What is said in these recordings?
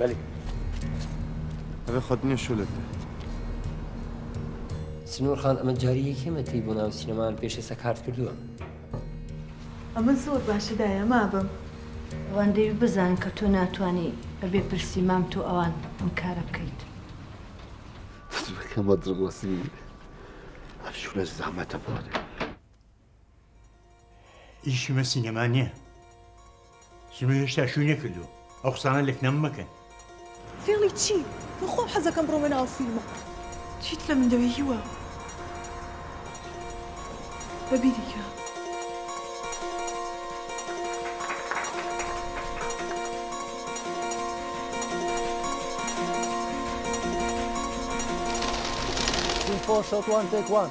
Belê. Ev e xwedinê şolek e. Sinor Xan, min carî yekê me tî bo nav sînemayan pêşê sekart kirduwa. A min zor baş daye ma bim. Wan dêwî bizanin ke to natwanî bi bê pirsî mam to awan vin kara bikeyît. Dibike ma dirxwasî. Ev şole zehmet e bo de. Îşî me sînema niye. Sino hêşta şûy nekirdo. Ew qisana lek nam mekin. Fêlî çî? Min xwe hez dikim bi romana ew fîlma. Çî dile min de wê hîwa me bî dike. Team four shot one take one.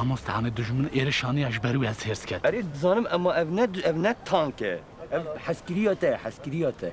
Mamosta me dijmin êrê şaniya ji berû ez hêrs ket. Erê dizanim ema ev ne ev ne tank e. Ev heskiriya te, heskiriya te.